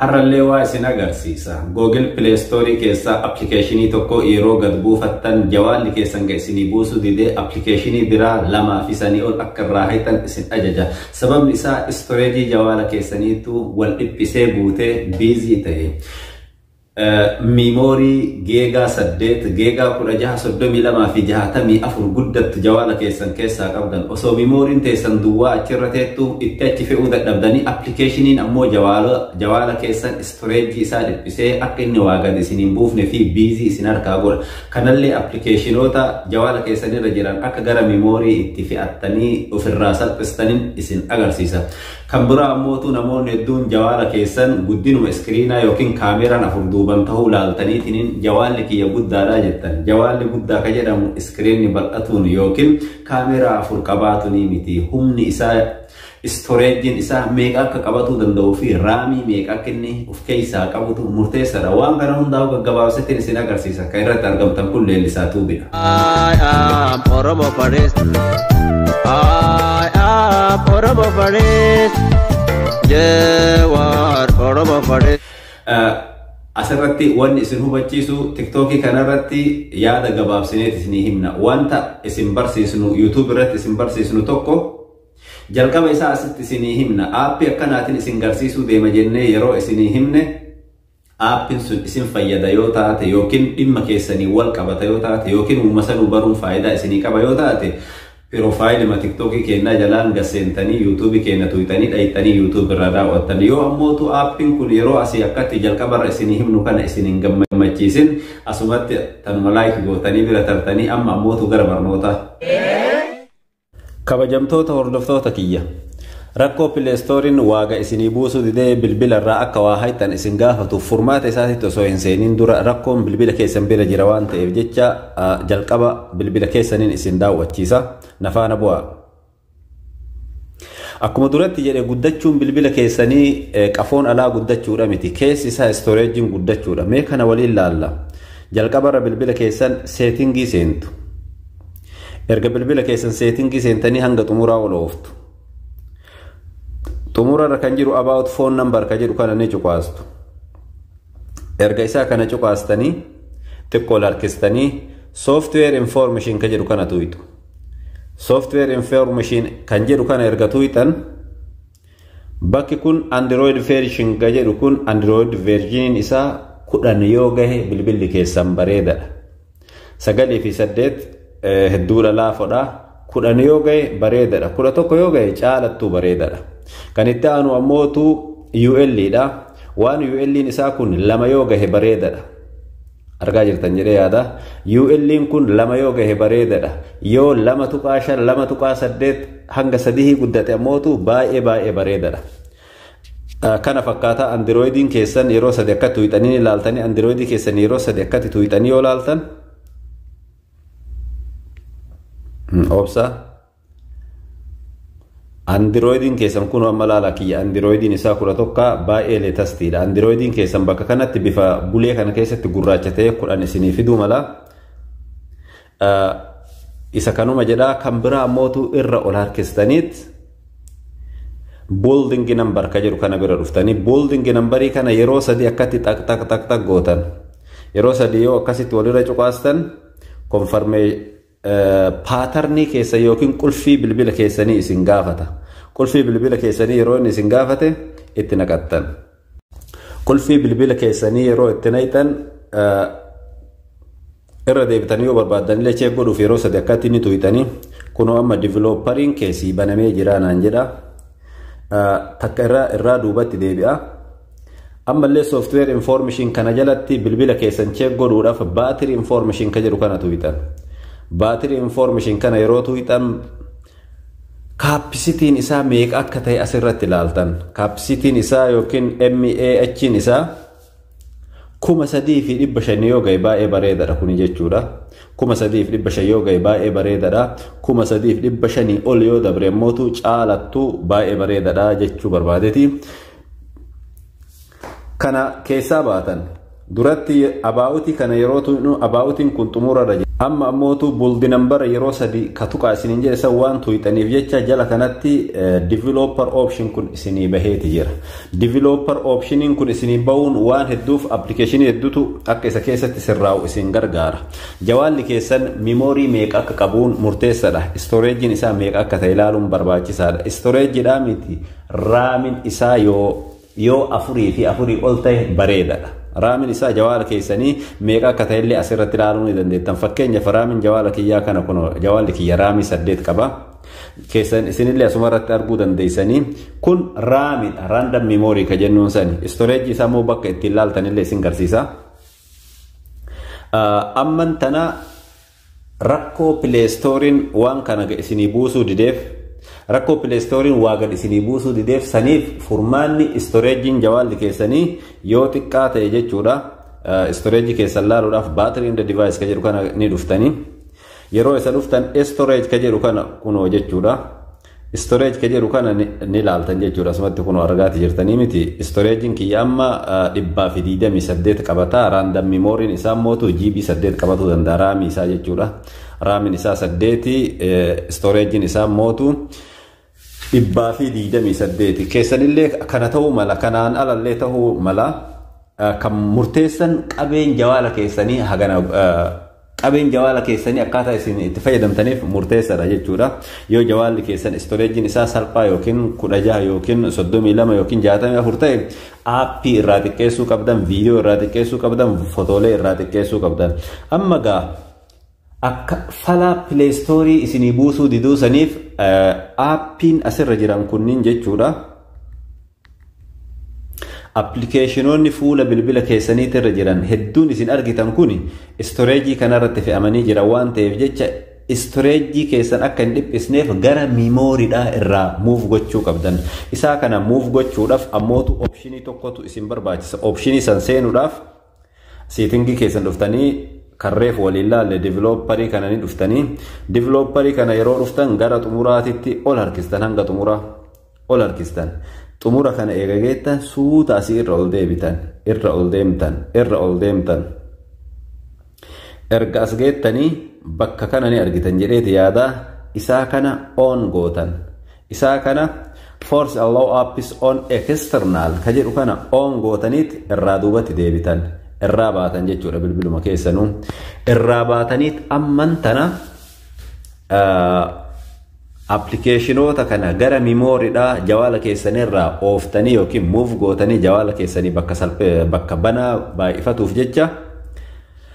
Har'allee waa isin agarsiisa. Google Play Store keessaa appilikeeshinii tokko yeroo gad buufattan jawaalli keessan ga isinii buusu didee appilikeeshinii biraa lamaa fi sanii ol akka irraa hayxan isin ajaja. Sababni isaa istoreejii jawaala keessaniitu wal dhiphisee guutee biizii ta'e. Miimoorii geegaa 8, geegaa 16, 32 fi 64 guddattu jawaala keessan keessaa qabdan. Osoo miimooriin teessan duwwaa achirra teettu itti achi fe'uu dadhabdanii appilikeeshiniin ammoo jawaala keessan istoreejii isaa dhiphisee akka inni waa gad isin hin buufne fi biizii isin harkaa godha. Kanallee appilikeeshinoota jawaala keessan irra jiran akka gara miimoorii itti fe'attanii ofirraa salphistaniin isin agarsiisa. Kan biraa ammootu namoonni hedduun jawaala keessan guddinuma iskiriinaa yookiin kaameeraan afur duuban tahuu laaltaniitiniin jawaalli kiyya guddaadha jettan. Jawaalli guddaa ka jedhamu iskiriinni bal'atuun yookiin kaameeraa afur qabaatunii miti. Humni isaa, istoreejjiin isaa meeqa akka qabatuu danda'uu fi raamii meeqa akka inni keessaa qabutu murteessadha. Waan kana hundaa'u gaggabaabseetiin isin agarsiisa. Kan irratti argamtan kun leellisaa tuubidha. I am Oromo Faris. I am Oromo Faris. Jewar Oromo Faris. Eh, Asirratti wanni isin hubachiisu tiktookii kanarratti yaada gabaabsineet isinii himna. Wanta isin barsiisnu YouTube irratti isin barsiisnu tokko Jalqaba isaa asitti isinii himna. Aappii akkanaatiin isin garsiisuu deema jennee yeroo isinii himne aappiin sun isin fayyada yoo taate yookiin dhimma keessaniin wal qabata yoo taate yookiin uuma sanuu baruun faayidaa isinii qaba yoo taate piroofaayilima tiktookii keenyaa jalaan gad seentanii yuutuubii keenya tuuxanii dhayxanii yuutuubii irraa daawwattan yoo ammootu aappiin kun yeroo asii akkatti jalqabarra isinii himnu kana isin hin gammachiisin asumatti tanuma laayik gootanii bira tartanii amma ammootu gara barnootaa. Kabajamtoota hordoftoota kiyya rakkoo pileestooriin waaga isinii buusuu didee bilbila irraa akka waa hayxan isin gaafatuuf furmaata isaatitti osoo hin seeniin dura rakkoon bilbila keessan bira jira waan ta'eef jecha jalqaba bilbila keessaniin isin daawwachiisa nafaana bu'aa. Akkuma duratti jedhe guddachuun bilbila keessanii qafoon alaa guddachuudha miti keessi isaa istooreejiin guddachuudha mee kana waliin laalla jalqabarra bilbila keessan seetingii seentu. Erga bilbila keessan seetingii seentanii hanga xumuraa ol ooftu. Xumura irra kan jiru about phone number ka jedhu kana ni cuqaastu. Erga isaa kana cuqaastanii xiqqoo harkistanii software information ka jedhu kana tuqxu. Software information kan jedhu kana erga tuqxan Bakki kun Android version ga jedhu kun Android version isaa kudhan yoo gahe bilbilli keessan bareedadha. Sagalii fi saddeet hedduudha laafodha. Kudhan yoo gahe bareedadha. Kudha tokko yoo gahe caalattuu bareedadha. Kan itti aanu ammootu UL dha. Waan UL'n isaa kun lama yoo gahe bareedadha. argaa jirtan jedhee yaada UL'n kun lama yoo gahe bareedadha yoo lama tuqaa shan lama tuqaa saddeet hanga sadihii guddate ammootu baay'ee baay'ee bareedadha. Kana fakkaataa andirooyidiin keessan yeroo sadi akka tuuxanii ilaaltanii andirooyidii keessan yeroo sadi akkatti tuuxanii yoo ilaaltan obsa Andirooyidiin keessan kun amma laala kiyya andirooyidiin isaa kudha tokko baay'ee leetastiidha. Andirooyidiin keessan bakka kanatti bifa bulee kana keessatti gurraacha ta'e kudhan isinii fiduu mala. Isa kanuma jedhaa kan biraa mootu irra ol harkistaniit booldingi nambar ka jedhu kana bira dhuftanii booldingi nambarii kana yeroo sadii akkatti xaq xaq xaq xaq gootan yeroo sadii yoo akkasitti walirra cuqaastan konfarmee paatarnii keessa yookiin qulfii bilbila keessanii isin gaafata. Qulfii bilbila keessanii yeroo inni isin gaafate itti naqattan. Qulfii bilbila keessanii yeroo itti naqxan irra deebitanii yoo barbaaddan illee cheek godhuuf yeroo sadi akkatti ni tuyxanii kunoo amma divilooppariin keessii banamee jira naan jedha. Takka irraa duubatti deebi'a. Ammallee software information kana jalatti bilbila keessan check godhuudhaaf battery information ka jedhu kana tuqxan. Battery information kana yeroo tuqxan kaappisitiin isaa meeqa akka ta'e asirratti ilaaltan. Kaappisitiin isaa yookiin MAH'n isaa kuma sadii fi dhibba shan yoo ga'e baay'ee bareedadha kuni jechuudha. Kuma sadii fi dhibba shan yoo ga'e baay'ee bareedadha. Kuma sadii fi dhibba shanii ol yoo dabre immoo caalattu baay'ee bareedadha jechuu barbaadeti. kana keessaa baatan duratti abaa'utii kana yeroo tuqnu abaa'utiin kun xumurarra jira amma ammootu buldi nambara yeroo sadii ka tuqaa isiniin jedhe san waan tuqxaniif jecha jala kanatti developer option kun isinii baheeti jira developer optioniin kun isinii bahuun waan hedduuf appilikeeshinii hedduutu akka isa keessatti sirraa'u isin gargaara jawaalli keessan miimoorii meeqa akka qabuun murteessadha istooreejiin isaa meeqa akka ta'e ilaaluun barbaachisaadha istooreejiidhaa miti Raamin isaa yoo yoo afurii fi afurii ol ta'e bareedadha. Raamin isaa jawaala keessanii meeqa akka ta'e illee asirratti ilaaluu ni dandeettan. Fakkeenyaaf raamin jawaala kiyyaa kana kun jawaalli kiyya raamii saddeet qaba. Keessan isinillee asuma irratti arguu dandeessanii kun raamidha. Raandam miimoorii ka jennuun sani. Istoreejii isaa immoo bakka ittiin ilaaltanillee isin garsiisa. Amman tana Rakkoo pileestooriin waan kana isinii buusuu dideef rakkoo pileestooriin waa gad isinii buusuu dideef saniif furmaanni istoreejiin jawaalli keessanii yoo xiqqaa ta'e jechuudha istoreejii keessan laaluudhaaf baatirii inda divaayis ka jedhu kana ni dhuftanii yeroo isa dhuftan istoreej ka jedhu kana kunoo jechuudha. Storage ka jedhu kana ni laaltan jechuudha asumatti kun argaati jirtanii miti storage'n kiyya amma dhibbaa fi digdamii saddeet qabata random memory'n isaa mootu GB saddeet qabatuu danda'a raamii isaa jechuudha raamiin isaa saddeeti storage'n isaa mootu dhibbaa fi digdamii saddeeti keessanillee kana ta'uu mala kanaan alallee ta'uu mala kan murteessan qabeen jawaala keessanii hagana Qabeen jawaala keessanii akkaataa isin itti fayyadamtaniif murteessaadha jechuudha. Yoo jawaalli keessan istoreejiin isaa salphaa yookiin 16 yookiin 32 yookiin 64 ta'e aappii irraa xiqqeessuu qabdan, viidiyoo irraa xiqqeessuu qabdan, fotoolee irraa xiqqeessuu qabdan. Amma gaa akka falaa pileestoorii isinii buusuu diduu saniif aappiin asirra jiran kunniin jechuudha. Appilikeeshinoonni fuula bilbila keessaniitti irra jiran hedduun isin argitan kun istoreejii kanarratti fe'amanii jiran waan ta'eef jecha istoreejii keessan akka hin dhiphisneef gara miimooridhaa irraa muuf gochuu qabdan. Isaa kana muuf gochuudhaaf ammootu opshinii tokkotu isin barbaachisa. Opshinii san seenuudhaaf Siitingii keessan dhuftanii kan reefu waliin laalle divilooparii kana ni dhuftanii divilooparii kana yeroo dhuftan gara xumuraatitti ol harkistan hanga xumuraa ol harkistan xumura kana eegageettan suuta asii irra ol deebitan irra ol deemtan irra ol deemtan erga as geettanii bakka kana ni argitan jedheeti yaadaa isaa kana oon gootan isaa kana force allow apps on external ka jedhu kana on gootaniit irraa duubatti deebitan irraa baatan jechuudha bilbiluma keessanuu irraa baataniit amman tana appilikeeshinoota kana gara mimooriidhaa jawaala keessanirraa ooftanii yookiin muuf gootanii jawaala keessanii bakka salphee bakka banaa baay'ifatuuf jecha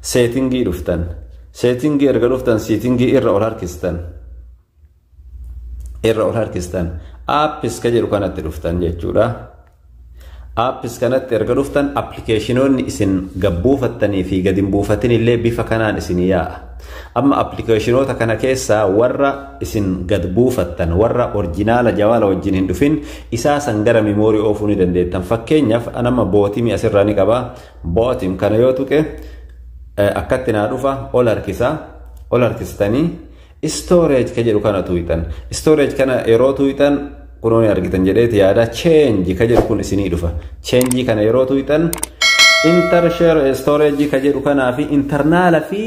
seetingii dhuftan seetingii erga dhuftan seetingii irra ol harkistan irra ol harkistan apps ka jedhu kanatti dhuftan jechuudha. Apps kanatti erga dhuftan appilikeeshinoonni isin gabbuufattanii fi gadi hin buufatin illee bifa kanaan isin yaa'a. Amma appilikeeshinoota kana keessaa warra isin gad buufattan warra orjinaala jawaala wajjin hin dhufin isaa san gara miimoorii oofuu ni dandeettan. Fakkeenyaaf anamma bootimii asirraa ni qaba. Bootim kana yoo tuqe akkatti naa dhufa ol harkisa. Ol harkistanii Storage ka jedhu kana tuuyxan. Storage kana yeroo tuuyxan kunoo ni argitan jedheeti yaada change ka jedhu kun isinii dhufa. Change kana yeroo tuuyxan inter share storage ka jedhu kanaa fi internaala fi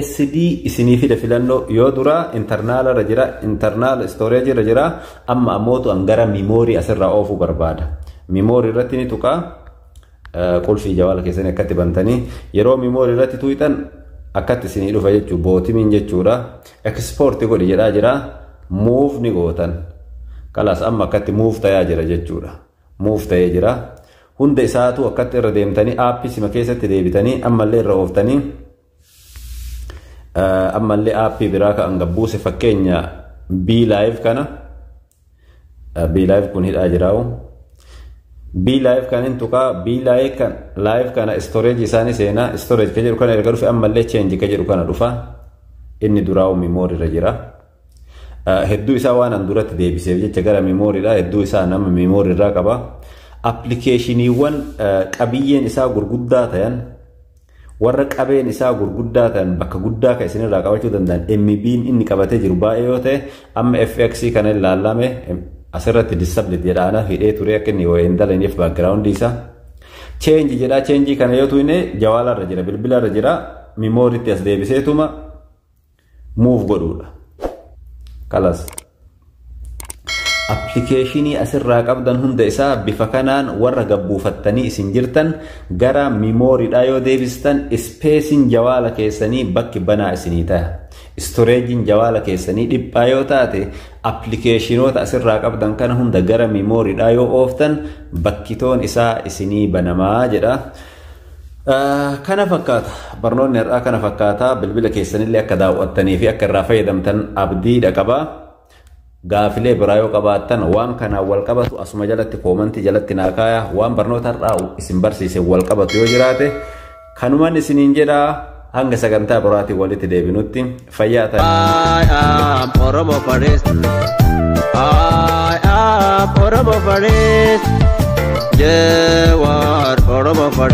SD isinii fida filannoo yoo dura internaala irra jira internaala storage irra jira amma ammootu an gara memory asirraa oofuu barbaada. Memory irratti ni tuqaa. Qulfii jawaala keessanii akkatti bantanii yeroo miimoori irratti tuuxan akkatti isinii dhufa jechuu bootimiin jechuudha. Ekspoorti godhi jedhaa jira. Muuf ni gootan. Kalaas amma akkatti muuf tayaa jira jechuudha. Muuf tayee jira. Hunda isaatu akkatti irra deemtanii aappii sima keessatti deebitanii ammallee irra ooftanii ammallee aappii biraa kan gabbuuse fakkeenya B live kana B live kun hidhaa jiraa'u B live kan hin tuqaa B live kan live kana storage isaanii seenaa storage kan jedhu kana erga dhufe ammallee change kan jedhu kana dhufa inni duraa'u memory irra jira hedduu isaa waan an duratti deebiseef jecha gara memory dha hedduu isaa nama memory irraa qaba appilikeeshiniiwwan qabiyyeen isaa gurguddaa ta'an Warra qabeen isaa gurguddaa ta'an bakka guddaa kan isinirraa qabachuu danda'an MB'n inni qabatee jiru baay'ee yoo ta'e amma FX kana ilaallame asirratti disablit jedhaana hidhee turee akka inni wayii hin dalagneef baakgiraawundi isaa. Cheenji jedhaa cheenjii kana yoo tuine jawaalarra jira bilbilarra jira mimooritti as deebiseetuma move godhuudha. Kalas. Appilikeeshinii asirraa qabdan hunda isaa bifa kanaan warra gabbuufattanii isin jirtan gara miimooriidhaa yoo deebistan ispeesiin jawaala keessanii bakki banaa isinii ta'a. Istoreejiin jawaala keessanii dhiphaa yoo taate appilikeeshinoota asirraa qabdan kana hunda gara miimooriidhaa yoo ooftan bakkitoon isaa isinii banamaa jedha. Kana fakkaata. Barnoonni har'aa kana fakkaata. Bilbila keessanillee akka daawwattanii fi akka irraa fayyadamtan abdiidha qaba. Gaafilee biraa yoo qabaattan waan kanaan wal qabatu asuma jalatti koomantii jalatti naa kaaya. Waan barnoota har'aa isin barsiise wal qabatu yoo jiraate kanuman isiniin jedha hanga sagantaa biraatiin walitti deebinutti fayyaa ta'e. I am Oromo Forest. I am Oromo Forest. Jawar Oromo Forest.